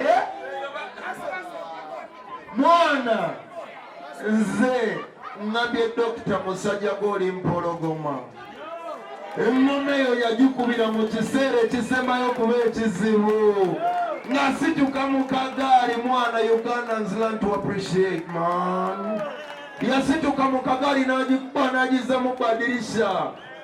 Eh? mwana nze ngambye dokita musajja gwoli mpologoma ennono eyo yagikubira mu kiseera ekisembayo kuba ekizibu nga situka mu kagaali mwana ugandans learn to appreciate man yasituka mu kagaali n'agikuba n'agizza mu badirisha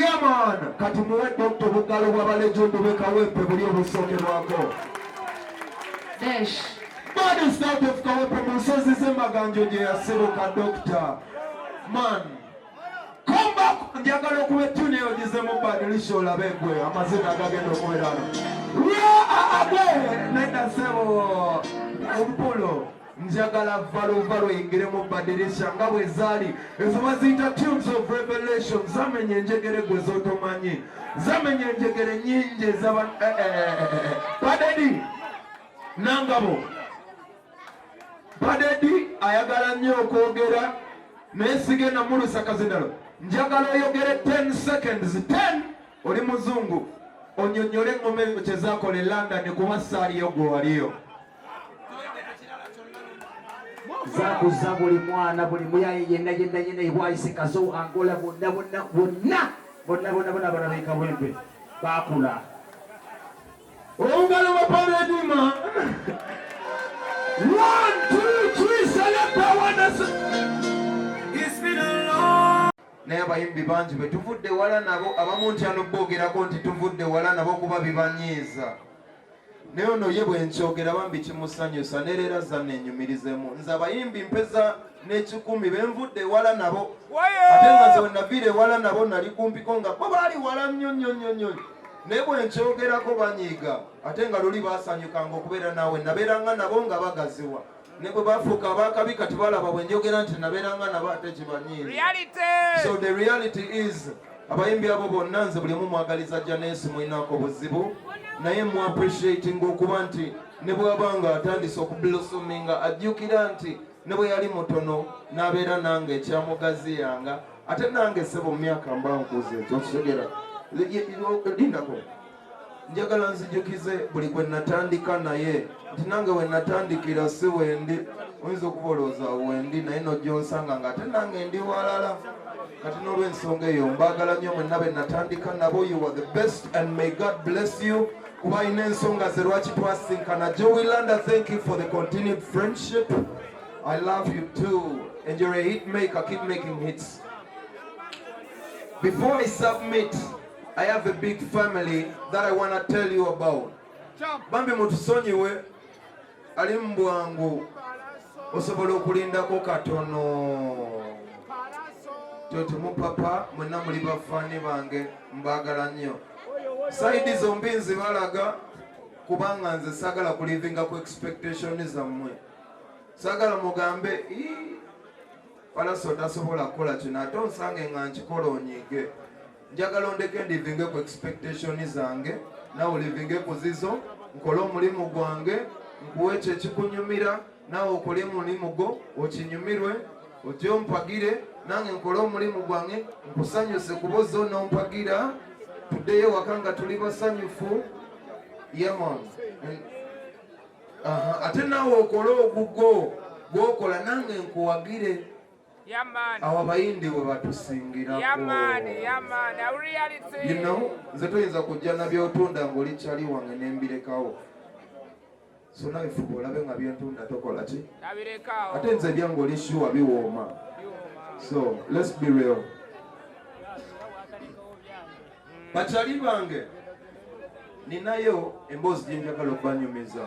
Yaman kati muwe dokta obugalo bw'abalejundu be Kawempe buli obusookerwako. Desh. Bad is out of Kawempe mu nsozi z'emaganjo gye yasibuka dokta. Man. Come back njagala okuba ettuni eyo gizemu badilisha olabe gwe amazina agagenda okubeerano. Where are they? Nenda sebo. Obupulo. njagala valovalo yingiremu badirisha nga bwe zaali ezo baziyita tunes of revelation zamenya enjegere gwe zotomanyi zamenya enjegere nyingi ezaba eh, eh, eh, padedi nangabo padedi ayagala nnyo okwogera naye sigenda mulusa kazindalo njagala oyogere 10 seconds 10 oli muzungu onyonyole eŋoma ezo kyezakola e london kuba saaliyo gwewaliyo zakuza buli mwana buli muyaye yenna yenna yenna ebwayise kazo angola bonna bonna bonna bonna bonna bona abana bekawembe bakula ongalo baparedima one two three selekta wanas naye abayimbi bangi betuvudde wala nabo abamu nti ano bogerako nti tuvudde wala nabo kuba bibanyiiza naye ono ye bwenkyogera bambi kimusanyusa nereera zanna enyumirizemu nze abayimbi mpeza n'ekikumi benvudde ewala nabo ate nga nze wenaviira ewala nabo nali kumpiko nga bo baali wala nnyo nnyo nnyo nnyo naye bwenkyogerako banyiiga ate nga luli basanyukanga okubeera naawe nabeeranga nabo nga bagaziwa ne bwe bafuuka ab'akabi kati balaba bwe njogera nti nabeeranga nabo ate kibanyiini so the reality is abayimbi abo bonna nze buli omu mwagaliza janeesi mulinaako buzibu naye mu appreciating okuba nti ne bwaba nga atandise okublosominga ajjukira nti ne bwe yali mutono n'abeera nange ekyamugaziyanga ate nange sebo mu myaka mba nkuze ekyo okitegera lindako njagala nzijukize buli gwe natandika naye nti nange we natandikira si wendi oyinza okuba olowooza wendi naye nojja onsanga nga ate nange ndi walala kati n'olwensonga eyo mbaagala nnyo mwenna be natandika nabo you are the best and may god bless you kuba alina ensonga ze lwaki twasinkana jowilanda thank you for the continued friendship i love you too and you're a hit maker keep making hits before i submit I have a big family that I want to tell you about. Bambi mutusonyiwe ali mbwangu osobola okulindako katono tyotimu papa mwena muli bafaani bange mbagala nnyo saidi zombi nzibalaga kubanga nze sagala kulivinga ku expectation zammwe sagala mugambe palaso tasobola kukola kino ate onsange nga nkikola onyiige njagala ondeke ndivinge ku expectation zange nawe olivinge ku zizo nkole omulimu gwange nkuwe ekyo ekikunyumira nawe okole omulimu gwo okinyumirwe ojje ompagire nange nkole omulimu gwange nkusanyuse kuba ozze onompagira tuddeyo waka nga tuli basanyufu yamon ate nawe okole ogugwo gwokola nange nkuwagire abayindi bwe batusingirakino nze toyinza kujja na byotunda ngaoli kyali wange nembirekawo so nawe fuba olabe nga byentunda tokola ki ate nze ebyange oli shuwa biwooma so lets be real bakyali bange ninayo emboozi gyenjagala okubanyumiza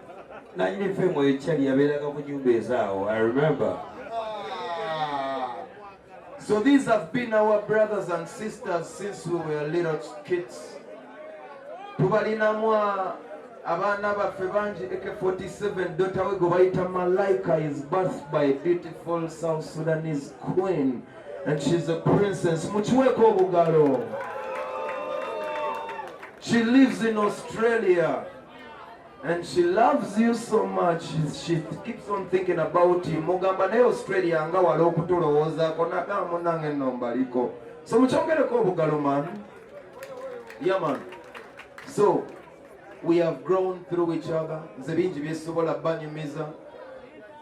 nanyini femu ekyali yabeeraga ku nyumba ezaawo i remember So these have been our brothers and sisters since we were little kids. Tubalinamwa abana baffe bangi AK47 daughter we gobayita Malaika is birthed by a beautiful South Sudanese queen and she's a princess. Mukiweko obugalo. She lives in Australia. And she loves you so much. She keeps on thinking about you. Mugamba naye Australia nga wala okutulowoozaako nagaa munange nno mbaliko. So mukyongereko obugalo man. Yeah man. So we have grown through each other. Nze bingi byesobola banyumiza.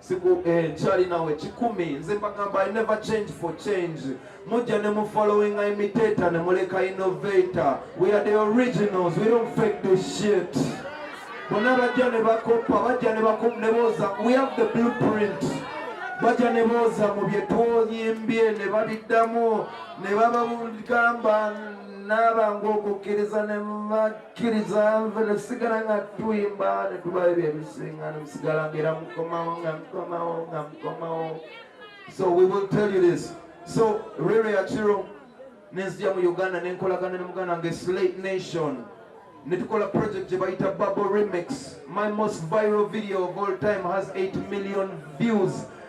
siku eh, chali nawe kikumi nze mbagamba i never change for change mujja ne mu following imitator ne muleka innovator we are the originals we don't fake this shit bona bajja ne bakopa bajja ne bakum ne boza we have the blueprint bajja ne boza mu bye twoyimbye ne babiddamu ne babagamba n'abangu okukkiriza ne kkiriza nve ne tusigala nga tuyimba ne tuba ebyo ebisinga ne musigala ngaera mukomawo nga mukomawo nga mukomawo so we will tell you this so rere yakiro nenzija mu uganda nenkolagana ne muganda nge slate nation ne tukola project gye bayita bubble remix my most viral video of all time has 8 million views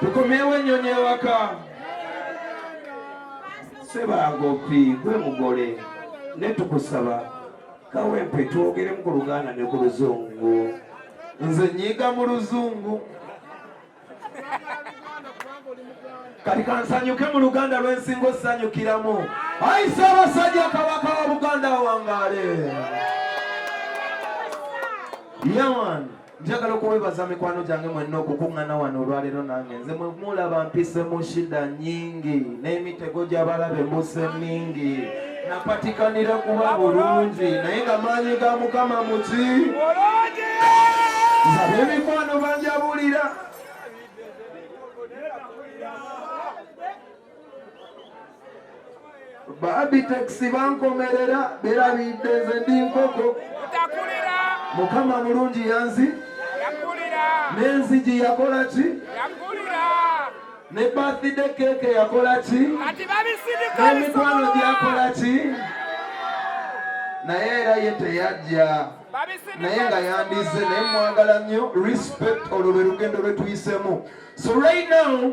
tukomyewo ennyonyi ewaka sebagopi gwe mugole ne tukusaba kawempe twogeremu ku luganda ne ku luzungu nze nyiga mu luzungu kati kansanyuke mu luganda lwensinga osanyukiramu ayi ssaabasajja kabaka wa buganda wangaale yawan njagala okuwebaza mikwano gyange mwenna okukuŋŋana wano olwaleero nange nze mwe mulaba mpise mu shida nyingi n'emitego gy'abalabe mbuse mingi napatikanira kuba bulungi naye nga maanyi ga mukama muki nzaba emikwano banjabulira babiteksi bankomerera berabidde nze ndi nkoko mukama mulungi yanzi n'enzigi yakola ki ne bathide keeke yakola ki n'emikwano gyakola ki naye era ye teyajja naye nga yandizze naye mwagala nnyo respect olwo lwe lugendo lwe tuyisemu so right now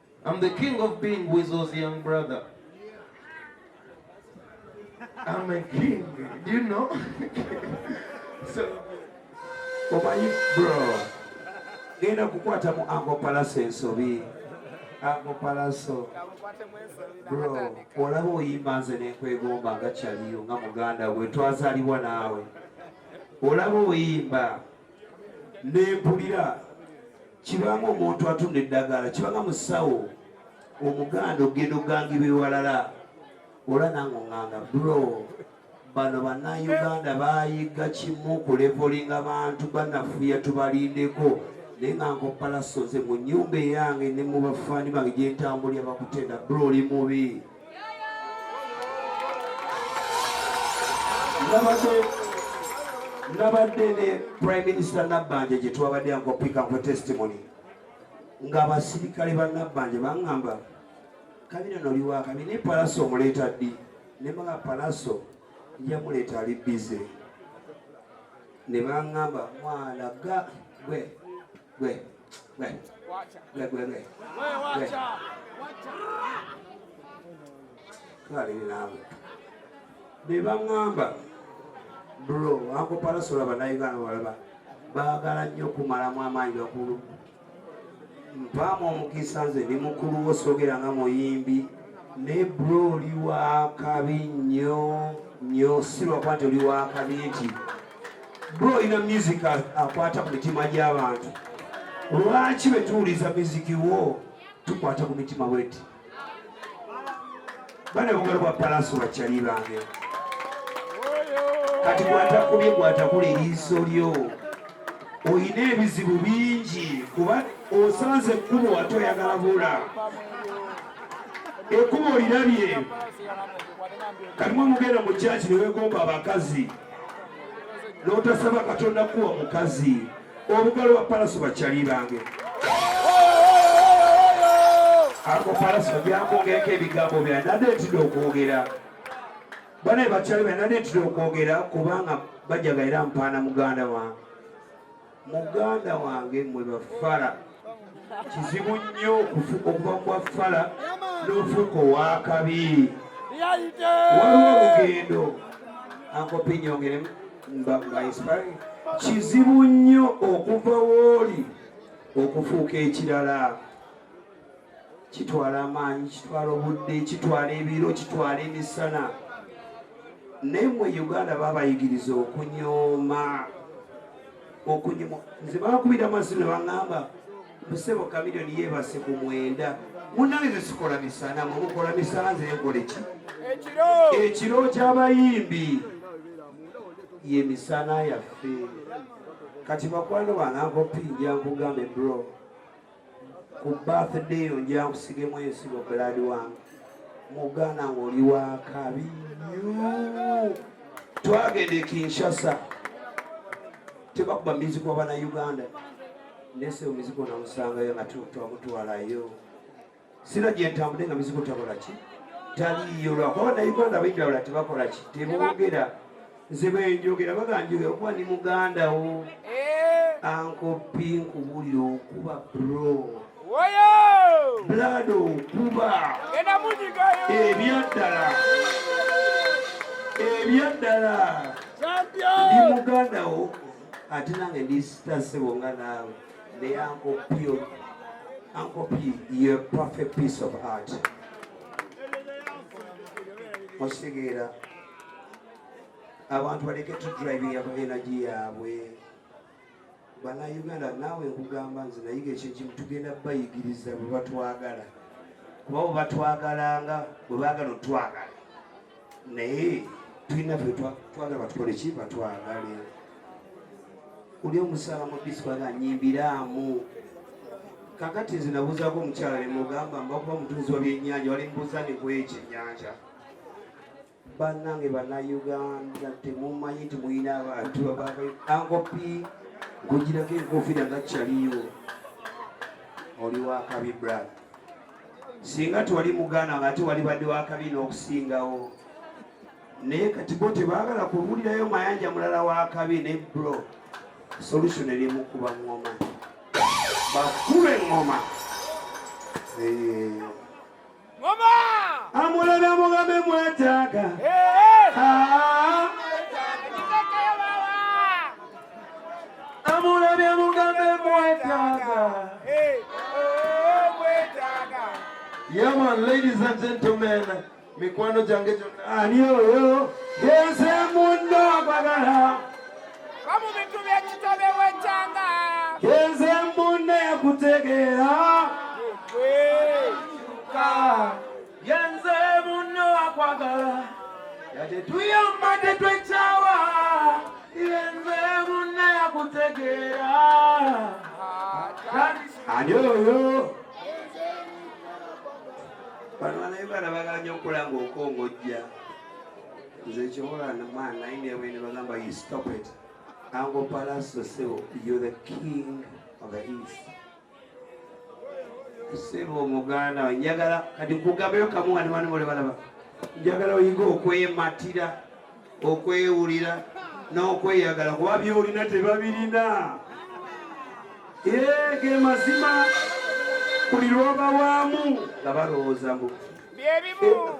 I'm the king of being Weasel's young brother. I'm a king, do you know? so, omanyi bro genda kukwata mu ango palaso ensobi ango palaso bro olaba oyimba nze nenkwegomba nga kyaliyo nga muganda we twazaliwa naawe olaba oyimba nempulira kibanga omuntu atunda eddagala kibanga musawo omuganda ogenda ogangibwa ewalala ola nange onganga bro bano bannayuganda bayiga kimu kulevolinga bantu banafuya tubalindeko naye nga nkopalasoze mu nyumba eyange ne mu bafaani bange gyentambulira bakutenda bro oli mubi nabadde ne prime minister nabbanja gye twabadde ankopika nkwe testimony ng'abasirikale ba nabbanja baŋŋamba kabina noliwakabi ne palaso omuleeta ddi ne baa palaso yamuleeta ali bize ne baŋŋamba mwana ga gwe gwe bebaŋamba bro akoparasula banayuganda walaba baagala nnyo okumalamu amaanyi bakulu mpaamu omukisa nze ndi mukulu wo sogera nga muyimbi naye bro oli wakabi nnyo nnyo sirwakuba nti oli wakabi nti bro ina music akwata ku mitima gy'abantu lwaki bwe tuwuliza miziki wo tukwata ku mitima bweti bana bugalo bwa palaso bakyali bange kati gwatakubye gwatakula eriiso lyo olina ebizibu bingi kuba osanze ekkubo wate oyagala bula ekkubo olirabye kati mwe mugenda mu kyaki newegomba abakazi notasaba katonda kuwa omukazi obugalo bwa palaso bakyali bange ako palaso byakwongerako ebigambo byanade ntida okwogera banaye bakyali byanade ntida okwogera kubanga bajaga era mpaana muganda wange muganda wange mwe bafala kizibu nnyo okuva ku bafala n'ofuuka ow'akabi waliwo olugendo ankopi nyongere mbainspire kizibu nnyo okuva wooli okufuuka ekirala kitwala amaanyi kitwala obudde kitwala ebiro kitwala emisana naye mwe uganda babayigiriza okunyooma okunyuma nze bakubira amaaso ne baŋŋamba busebo kamilioni yeebase ku mwenda munange ze sikola misana mwe mukola misana nze nkole ki ekiro ky'abayimbi ye misana yaffe kati bakwano banankopi njankugamba ebro ku birthday yo nja nkusigemu ensigo blood wange muganda ng'oli wakabi nyo twagenda e kinshasa tebakuba mizigo bana uganda nese omizigo namusangayo nga twamutwalayo sira gyentambudde nga mizigo takola ki taliiyo lwakuba nauganda abaidawula tebakola ki tebogera nze bwenjogera baganjogera okuba ndi muganda wo eh. ankopi nkubuulira okuba bro bulado okuba ebyaddala ebyaddala ndi muganda wo ate nange ndisitasebo nga naawe May Uncle P, Uncle P, you're a perfect piece of art. Osigera. Abantu baleke to driving ya energy yaabwe. Bana Uganda naawe nkugamba nze nayiga ekyekimu tugenda bayigiriza bwe batwagala. Kuba bwe batwagalanga bwe baagala otwagala. naye tulina twagala batukole ki batwagale oli omusaala mudisi kwaga nyimbiraamu kakati nze nabuuzaako omukyala nemugamba mbakuba mutunzi wa byenyanja wali mbuuza ne kwekyenyanja banange banauganda temumanyi nti mulina abantu ankopi nkugirako enkofiira nga kyaliyo oli wakabi brad singa tewali muganda nga ate wali badde wakabi n'okusingawo naye kati bo tebaagala kubuulirayo mayanja mulala wakabi ne bro solution eri mukuba ngoma bakube ngoma amulala mugambe mwetaaga amulabye mugambe mwetaaga Yeah, man, ladies and gentlemen, mikwano gyange gyonna ani oyo yenze munno bagala omu bintu byekitobe wekyanga yenze munno yakutegeera yenze munno akwagala yate tuyamba tetwekyawa yenze munna yakutegeera ani oyo bano banaye bana baganya okukola ngaokongojja nze kyobola namaa naye nebwe ne bagamba you stop it ango palaso sebo you're the king of the east sebo omuganda we njagala kati nkugambeyo kamu nga nebana bole balaba njagala oyinga okwematira okwewulira n'okweyagala kuba byolina tebabirina ge mazima buli lwoba waamu nga balowooza mbu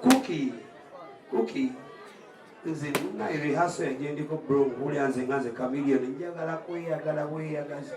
kuki eh, kuki nze naye rehaso yajendiko bro nkulya nze nga nze kamilioni njagala kweyagala bweyagaza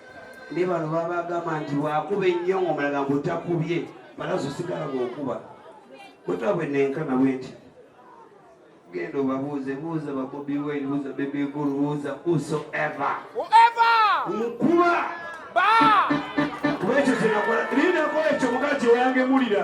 ne bano babagamba nti wakuba ennyo ngaomulaga mbu takubye balazi osigala gwokuba kwetabwe nenkana bwe nti genda obabuuze buuza babobi wayne buuza bebegulu buuza whosoever nkuba kuba ekyo kyenakola linakola ekyo mugala kyeyangemulira